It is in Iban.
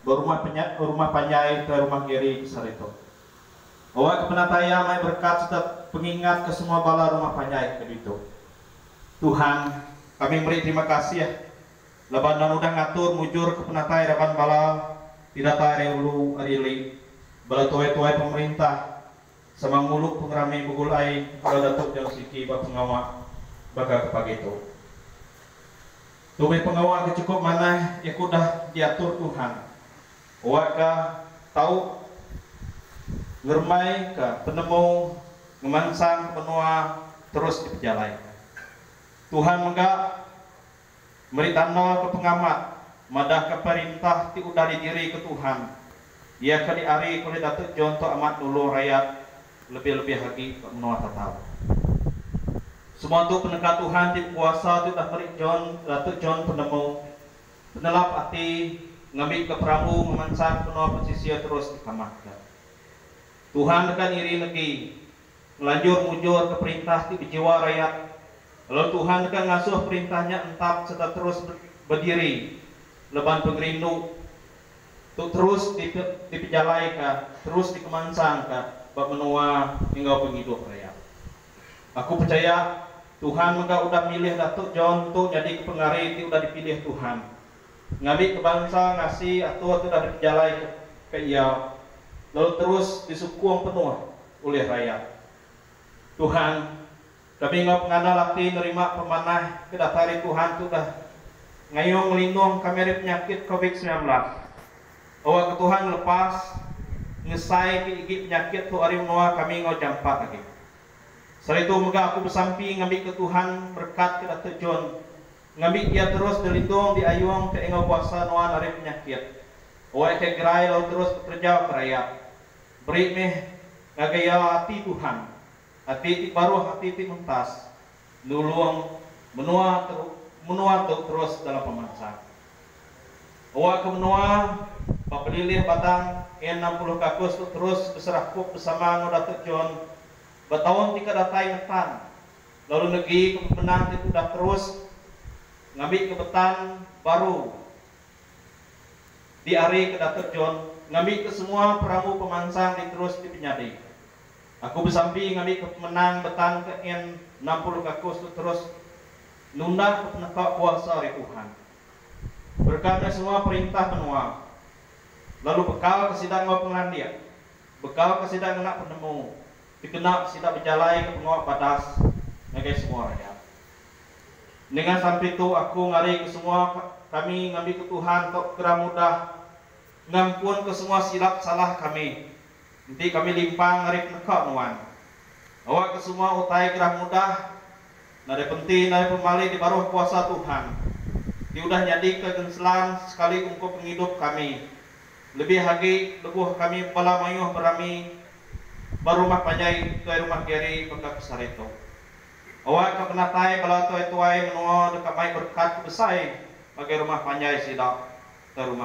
berumah penya rumah panjai tuai rumah Gary di Saritu. Awak ke penatai iya mai berekat sereta pengingat ke semua bala rumah panjai ke ditu. Tuhan, kami meri terima kasih laban Endang udah ngatur mujur ke penatai raban bala ti datai ari ulu ari ili, bala tuai-tuai pemerintah, sama ngulu pengerami begulai enggau Datuk John Siki ba pengawa baka ke pagi tu. Tu meh pengawa ke chukup manah iya ke udah diatur Tuhan wak ga tau ngerembai ka penemu ngemansang ke menua terus dipejalai. Tuhan mega Meri tanda ke pengamat madahka perintah ti udah didirika Tuhan, iya ke diarika ulih Datuk John tu amat nulung rayat lebih-lebih agi ba menua Tatau. Semua tu peneka Tuhan ti bekuasa ti udah meri John Datuk John penemu, penelap ati ngambika perahu ngemansang benua pesisir terus dikamatka. Tuhan deka ngiring agi Ngelanjur mujurka perintah ti bejiwa rayat, lalu Tuhan deka ngasuh perintah nya entap sereta terus bediri leban pengerindu tu terus dipejalaika terus dikemansangka ba menua enggau pengidup rayat. Aku pechaya Tuhan mega udah milih Datuk John tu nyadika pengari ti udah dipilih Tuhan. ngambika bansa ngasi atur ti udah dipejalaika ke iya lalu terus disukung penuh ulih rayat. Tuhan, kami enggau pengandal ati nerima pemanah ke datai ari Tuhan ti udah ngayung ngelindung kami ari penyakit Covid semilan belas. Awakka Tuhan ngelepas ngesai ke igi penyakit tu ari menua kami enggau jampat agi. Seharitu mega aku besampi ngambika Tuhan berekatka Datuk John Ngambik pia terus ngelindung di ayung ke enggau kuasa nuan ari penyakit. Oe ke gerai lalu terus bekerja ke rayat. Beri meh ngagai ia ati Tuhan, ati ti baruh ati ti mentas, nulung menua teru menua tu terus dalam pemansang. Oe ke menua ba pelilih batang N enam puluh kakus tu terus beserakup besama enggau Datuk John ba taun ti ke datai ngetan lalu negika pemendar ti tudah terus ngambika betan baru diarika Datuk John ngambika semua perambu pemansang diterus dipenyadi. Aku besampi ngambika pemenang betan ke en enam puluh kakus tu terus nundaka peneka kuasa ari Tuhan bereka meh semua perintah menua lalu bekalka sida enggau pengelandik, bekalka sida ngena penemu dikena sida bejalaika pengawa badas ngagai semua rayat. Ninga sampi tu aku ngarika semua kami ngambika Tuhan entuk pekara mudah ngampunka semua silap salah kami enti kami limpang ari peneka nuan. Awakka semua utai gerah mudah nadai penti nadai pemali di baruh kuasa Tuhan ti udah nyadika genselan sekali ungkup pengidup kami. Lebih agi, lebuh kami bala mayuh berami ba rumah panjai Tuai Rumah Gary baka ke sehari tu. Awakka penatai bala tuai-tuai menua deka mai berkat ke besai ngagai rumah panjai sida, Tuai Rumah.